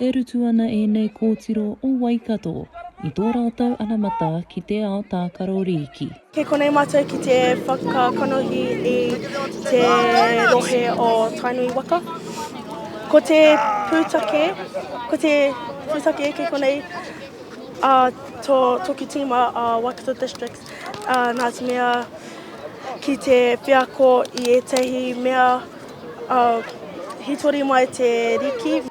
E rutu ana ēnei kōtiro o Waikato i tō rātou anamata ki te ao tākaro rīki. Kei konei mātou ki te whakakanohi i te rohe o Tainui waka. Ko te pūtake, ko te pūtake kei konei a tō, tōku tīma a Waikato District. ā, nā te mea ki te wheako i ētahi mea ā, hītori mai te riki.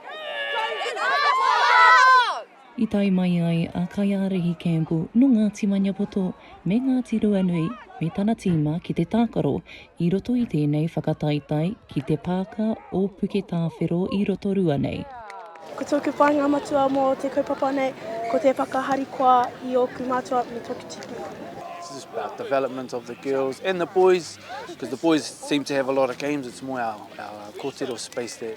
I tae mai ai a Kaiārahi Campbell nō Ngāti Maniapoto me Ngāti Ruanui me tana tīma ki te tākaro I roto i tēnei whakataetae ki te Pāka o Puketāwhero i Rotorua nei. Ko tōku whāinga matua mō te kaupapa nei, ko te whakaharikoa i ōku mātua me tōku tipuna. It's just about development of the girls and the boys, because the boys seem to have a lot of games, it's more our kōtiro space that.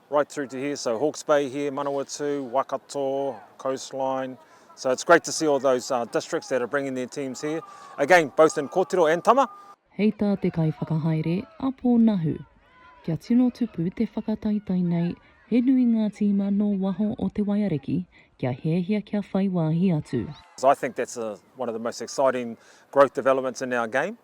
right through to here, so Hawke's Bay here, Manawatū, Waikato, Coastline, so it's great to see all those uh, districts that are bringing their teams here, again, both in kōtiro and tama. Hei tā te kaiwhakahaere a Pō Nahu, kia tino tupu te whakataetae nei he nui ngā tīma nō waho o Te Waiariki kia hiahia kia whai wāhi atu. I think that's a, one of the most exciting growth developments in our game.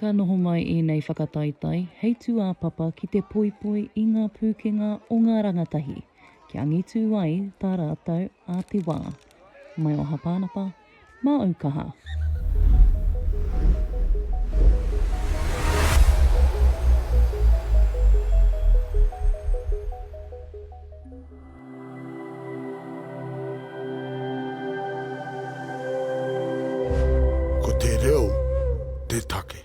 Ka noho mai ēnei whakataetae hei tūāpapa ki te poipoi i ngā pūkenga o ngā rangatahi, kia angitū ai tā rātou a te wā. Mai o Hapānapa, mā Aukaha. Ko te reo te take.